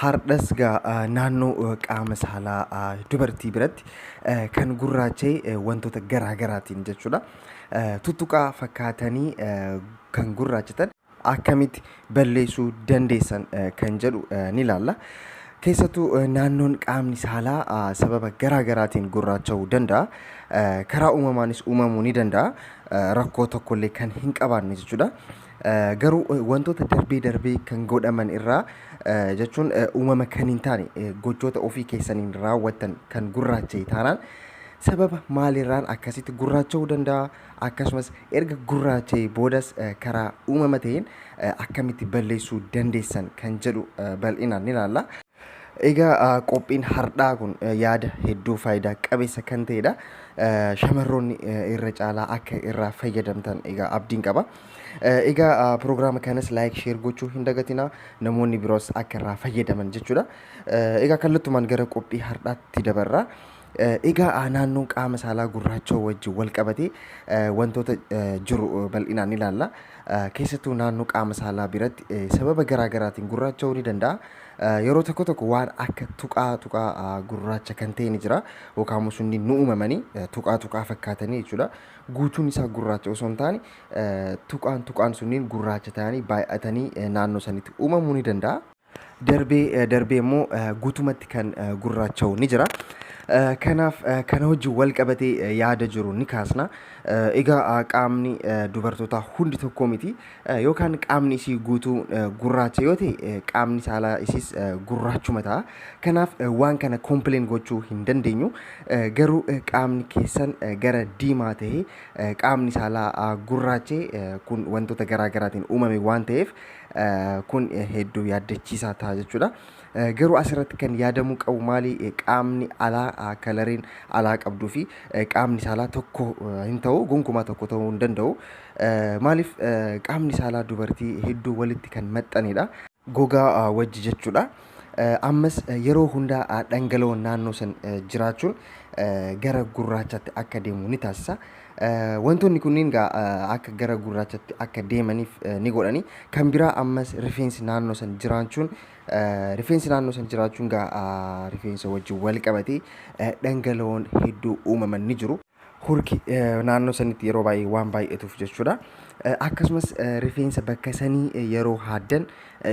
Hardhas gaa naannoo qaama saalaa dubartii biratti kan gurraacha'e wantoota garaa garaatiin jechuudha. Tuttuqaa fakkaatanii kan gurraachatan akkamitti balleessuu dandeessan kan jedhu ni ilaalla. Keessattuu naannoon qaamni saalaa sababa garaa garaatiin gurraacha'uu danda'a. Karaa uumamaanis uumamuu ni danda'a. Rakkoo tokkollee kan hin qabaanne jechuudha. Garuu wantoota darbee darbee kan godhaman irraa jechuun uumama kan hin taane gochoota ofii keessaniin raawwattan kan gurraacha'e taanaan sababa maalirraan akkasitti gurraacha'uu danda'a akkasumas erga gurraacha'e boodas karaa uumama ta'een akkamitti balleessuu dandeessan kan jedhu bal'inaan ni ilaalla. Egaa qophiin hardhaa kun yaada hedduu faayidaa qabeessa kan ta'edha. Shamarroonni irra caalaa akka irraa fayyadamtan egaa abdiin qaba. Egaa piroogiraama kanas laayik sheer gochuu hin dagatina namoonni biroos akka irraa fayyadaman jechuudha. Egaa kallattumaan gara qophii hardhaatti dabarra. Egaa naannoon qaama saalaa gurraachoo wajjin walqabatee wantoota jiru bal'inaan ni ilaalla. Keessattuu naannoo qaama saalaa biratti sababa garaa garaatiin gurraacha'uu ni danda'a. Yeroo tokko tokko waan akka tuqaa tuqaa gurraacha kan ta'e ni jira. Yookaan immoo sunni nu uumamanii tuqaa tuqaa fakkaatanii jechuudha. Guutuun isaa gurraacha osoo hin taane tuqaan tuqaan sunniin gurraacha ta'anii baay'atanii naannoo sanitti uumamuu ni danda'a. Darbee darbee immoo guutumatti kan gurraacha'u ni jira. Kanaaf kana wajjin wal qabatee yaada jiru ni kaasna. Egaa qaamni dubartootaa hundi tokko miti. Yookaan qaamni isii guutuu gurraacha yoo ta'e qaamni saalaa isiis gurraachuma ta'a. Kanaaf waan kana kompileen gochuu hin dandeenyu. Garuu qaamni keessan gara diimaa ta'e qaamni saalaa gurraachee kun wantoota garaa garaatiin uumame waan ta'eef Kun hedduu yaaddachiisaa ta'a jechuudha. Garuu asirratti kan yaadamuu qabu maali qaamni alaa kalariin alaa qabduu fi qaamni saalaa tokko hin ta'u gonkumaa tokko ta'uu hin danda'u. Maaliif qaamni saalaa dubartii hedduu walitti kan maxxanidha. Gogaa wajji jechuudha. Ammas yeroo hundaa dhangala'oon naannoo san jiraachuun gara gurraachatti akka deemu ni taasisa. Wantoonni kunniin gaa akka gara gurraachatti akka deemaniif ni godhani. Kan biraa ammas rifeensi naannoo san jiraachuun rifeensi naannoo san jiraachuun gaa rifeensa wajjin wal qabatee dhangala'oon hedduu uumaman ni jiru. hurki naannoo sanitti yeroo baay'ee waan baay'atuuf jechuudha. Akkasumas rifeensa bakka sanii yeroo haaddan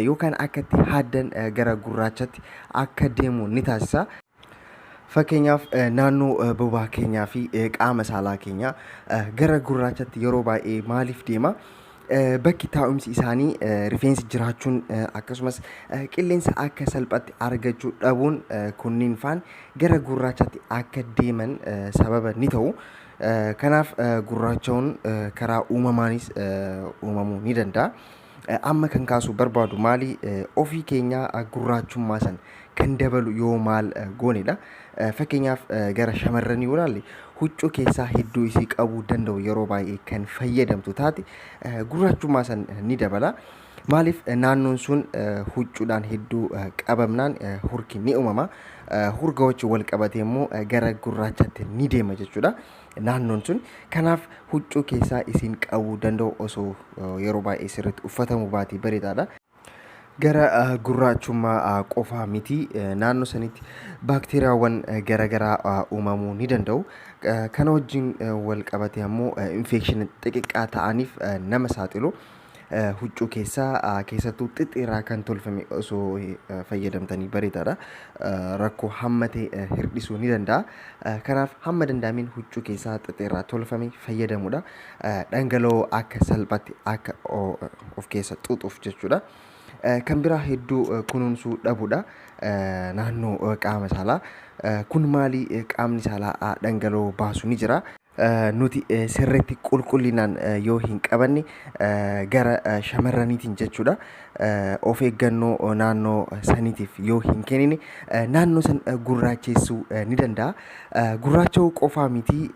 yookaan akka itti haaddan gara gurraachatti akka deemu ni taasisa. Fakkeenyaaf naannoo bobaa keenyaa fi qaama saalaa keenyaa gara gurraachatti yeroo baay'ee maaliif deema? bakki taa'umsi isaanii rifeensi jiraachuun akkasumas qilleensa akka salphatti argachuu dhabuun kunniin faan gara gurraachatti akka deeman sababa ni ta'u. Kanaaf gurraacha'uun karaa uumamaanis uumamuu ni danda'a. Amma kan kaasuu barbaadu maali ofii keenyaa gurraachummaa san kan dabalu yoo maal goonedha. Fakkeenyaaf gara shamarranii yoo ilaalle huccuu keessaa hedduu isii qabuu danda'u yeroo baay'ee kan fayyadamtu taate gurraachummaa san ni dabala. Maaliif naannoon sun huccuudhaan hedduu qabamnaan hurki ni uumama. Hurga wajjin wal qabatee immoo gara gurraachatti ni deema jechuudha naannoon sun. Kanaaf huccuu keessaa isiin qabuu danda'u osoo yeroo baay'ee sirriitti uffatamuu baatee bareedaadha. gara gurraachummaa qofaa miti naannoo sanitti baakteeriyaawwan garagaraa uumamuu ni danda'u. Kana wajjin wal qabatee ammoo infeekshina xixiqqaa ta'aniif nama saaxilu. Huccuu keessaa keessattuu xixxiirraa kan tolfame osoo fayyadamtanii bareedaadha. Rakkoo hamma ta'e hir'isuu ni danda'a. Kanaaf hamma danda'ameen huccuu keessaa xixxiirraa tolfame fayyadamuudha. Dhangala'oo akka salphaatti akka of keessa xuuxuuf jechuudha. Kan biraa hedduu kunuunsuu dhabudha. Naannoo qaama saalaa. Kun maali qaamni saalaa dhangala'oo baasu ni jira. Nuti sirriitti qulqullinaan yoo hin qabanne gara shamarraniitiin jechuudha. Of eeggannoo naannoo saniitiif yoo hin kennine naannoo san gurraacheessuu ni danda'a. Gurraacha'uu qofaa miti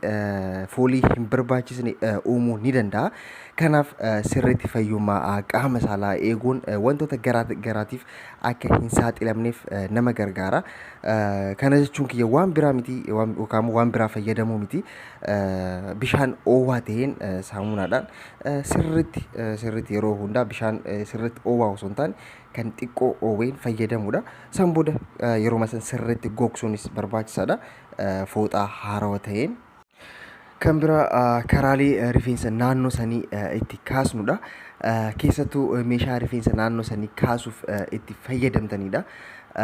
foolii hin barbaachisne uumuu ni danda'a. Kanaaf sirriitti fayyummaa qaama saalaa eeguun wantoota garaa garaatiif akka hin saaxilamneef nama gargaara. Kana jechuun kiyya waan biraa miti yookaan waan biraa fayyadamuu miti. Bishaan oowwaa ta'een saamunaadhaan sirriitti sirriitti yeroo hundaa bishaan sirriitti oowwaa osoo hin taane kan xiqqoo oowween fayyadamuudha. San booda yeroo san sirriitti gogsuunis barbaachisaadha. Fooxaa haarawa ta'een. Kan biraa ah, karaalee eh, rifeensa naannoo sanii eh, itti kaasnudha. Eh, Keessattuu eh, meeshaa rifeensa naannoo sanii kaasuuf eh, itti fayyadamtanidha.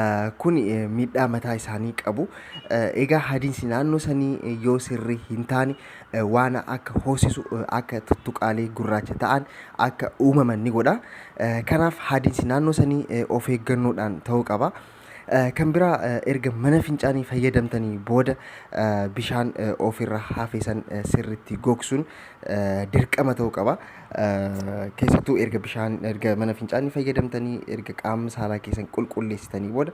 Eh, Kun eh, miidhaa mataa isaanii qabu. Eh, Egaa hadiinsi naannoo sanii eh, yoo sirrii hin taane eh, waan akka hoosisu eh, akka tuttuqaalee gurraacha ta'an akka uumaman ni godha. Eh, Kanaaf hadiinsi naannoo sanii eh, of eeggannoodhaan ta'uu qaba. Kan biraa erga mana fincaanii fayyadamtanii booda bishaan ofirra hafe san sirriitti gogsuun dirqama ta'uu qaba. Keessattuu erga bishaan erga mana fincaanii fayyadamtanii erga qaama saalaa keessan qulqulleessitanii booda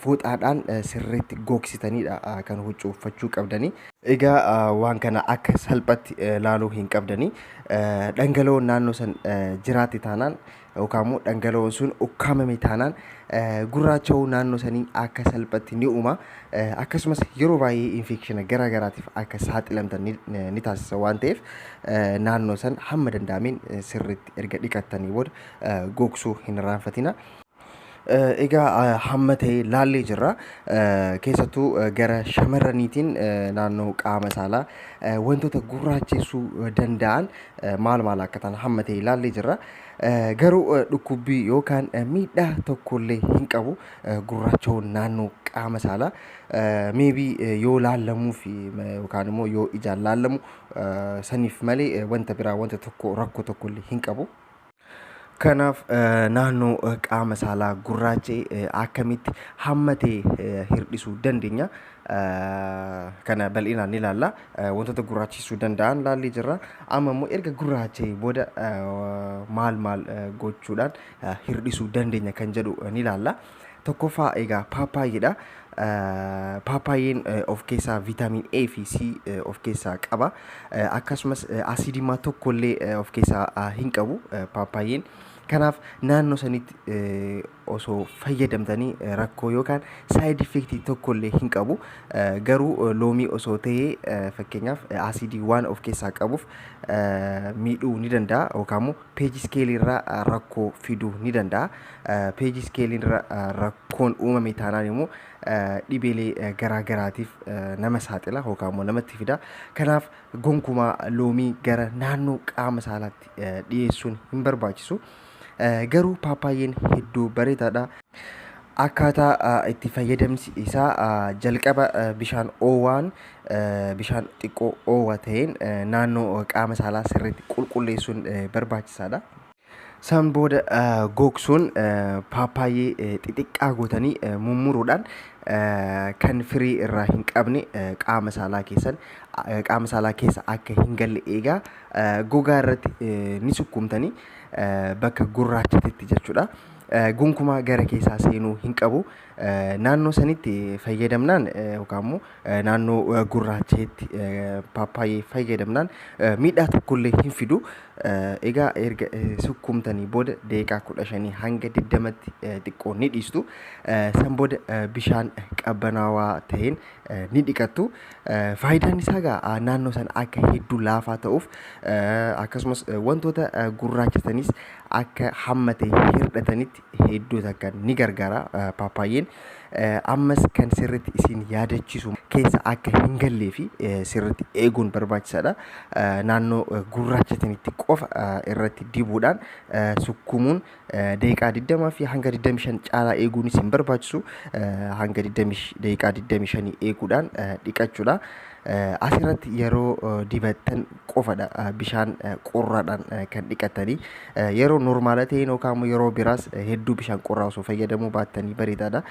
fooxaadhaan sirriitti gogsitaniidha kan huccuu uffachuu qabdanii. Egaa waan kana akka salphatti laaluu hin qabdanii. Dhangala'oon naannoo san jiraatti taanaan yookaan immoo dhangala'oon sun ukkaamame taanaan gurraacha'uu naannoo sanii akka salphatti ni uuma. Akkasumas yeroo baay'ee infeekshina garaa garaatiif akka saaxilamtan ni, ni taasisa waan ta'eef naannoo san hamma danda'ameen sirriitti erga dhiqattanii booda gogsuu hin irraanfatina. Egaa hamma ta'e laallee jirra. Keessattuu gara shamarraniitiin naannoo qaama saalaa wantoota gurraachessuu danda'an maal maal akka ta'an hamma ta'e laallee jirra. Garuu dhukkubbii yookaan miidhaa tokkollee hin qabu gurraacha'uun naannoo qaama saalaa. Maybe yoo laallamuuf yookaan immoo yoo ijaan laallamu saniif malee wanta biraa wanta tokko rakkoo tokkollee hin qabu. Kanaaf naannoo qaama saalaa gurraacha'e akkamitti hammatee hir'isuu dandeenya? Kana bal'inaan ni ilaalla. Wantoota gurraachessuu danda'an ilaallee jirra. Amma immoo erga gurraacha'ee booda maal maal gochuudhaan hir'isuu dandeenya kan jedhu ni ilaalla. Tokkoffaa egaa paappaayyeedha. Paappaayyeen of keessaa viitaamin A fi C of keessaa qaba. Akkasumas asiidimaa tokkollee of keessaa hin qabu paappaayyeen. Kanaaf naannoo sanitti osoo fayyadamtanii rakkoo yookaan saayid effektii tokkollee hin qabu. Garuu loomii osoo ta'ee fakkeenyaaf asiidii waan of keessaa qabuuf miidhuu ni danda'a yookaan immoo Page scale irra rakkoo fiduu ni danda'a. Page scale irra rakkoon uumame taanaan immoo dhibeelee garaa garaatiif nama saaxila yookaan immoo namatti fida. Kanaaf gonkumaa loomii gara naannoo qaama saalaatti dhiyeessuun hin barbaachisu. Garuu paappaayyeen hedduu bareedaadha. Akkaataa itti fayyadamsi isaa jalqaba bishaan oowwaan Bishaan xiqqoo oowwaa ta'een naannoo qaama saalaa sirriitti qulqulleessuun barbaachisaadha. San booda gogsuun paappaayyee xixiqqaa gootanii mummuruudhaan kan firii irraa hin qabne qaama saalaa keessan qaama saalaa keessa akka hin galle eegaa gogaa irratti ni sukkuumtanii bakka gurraachatitti jechuudha. Gonkumaa gara keessaa seenuu hin qabu. Naannoo sanitti fayyadamnaan yookaan immoo naannoo gurraacheetti paappaayee fayyadamnaan miidhaa tokkollee hin fidu. Egaa erga sukkuumtanii booda daqiiqaa kudha shanii hanga digdamatti xiqqoo ni dhiistu. San booda bishaan qabbanaawaa ta'een ni dhiqattu. Faayidaan isaa egaa naannoo sana akka hedduu laafaa ta'uuf akkasumas wantoota gurraachatanis akka hammatee hir'atanitti hedduu takka ni gargaara paappaayyeen. Ammas kan sirriitti isin yaadachisu keessa akka hin gallee fi sirriitti eeguun barbaachisaadha. Naannoo gurraachatanitti qofa irratti dibuudhaan sukkumuun daqiiqaa 20 fi hanga 25 caalaa eeguun isin barbaachisu hanga 20 daqiiqaa 25 eeguudhaan dhiqachuudha. Asirratti yeroo dibattan qofadha bishaan qorraadhaan kan dhiqattanii yeroo normaala ta'een yookaan immoo yeroo biraas hedduu bishaan qorraa osoo fayyadamuu baattanii bareedaadha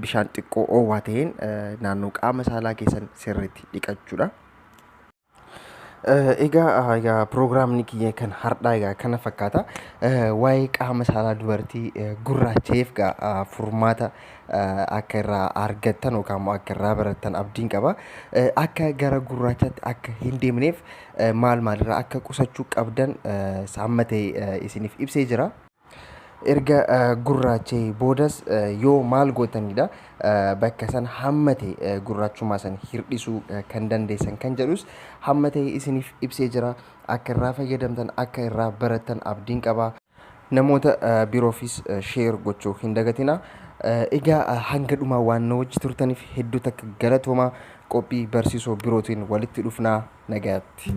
bishaan xiqqoo oowwaa ta'een naannoo qaama saalaa keessan sirriitti dhiqachuudha. Egaa egaa piroogiraamni kiyya kan har'aa egaa kana fakkaata waa'ee qaama saalaa dubartii gurraacheef egaa furmaata akka irraa argattan yookaan immoo akka irraa barattan abdiin qaba. Akka gara gurraachatti akka hin deemneef maal maalirraa akka qusachuu qabdan saamma ta'e isiniif ibsee jira. Erga gurraachee boodas yoo maal gootanidha bakka san hamma ta'e gurraachummaa san hir'isuu kan dandeessan kan jedhus hamma ta'e isiniif ibsee jira. Akka irraa fayyadamtan akka irraa barattan abdiin qaba. Namoota biroofis share gochuu hin dagatinaa. Egaa hanga dhumaa waan nu wajji turtaniif hedduu takka galatoomaa. Qophii barsiisoo birootiin walitti dhufnaa nagaatti.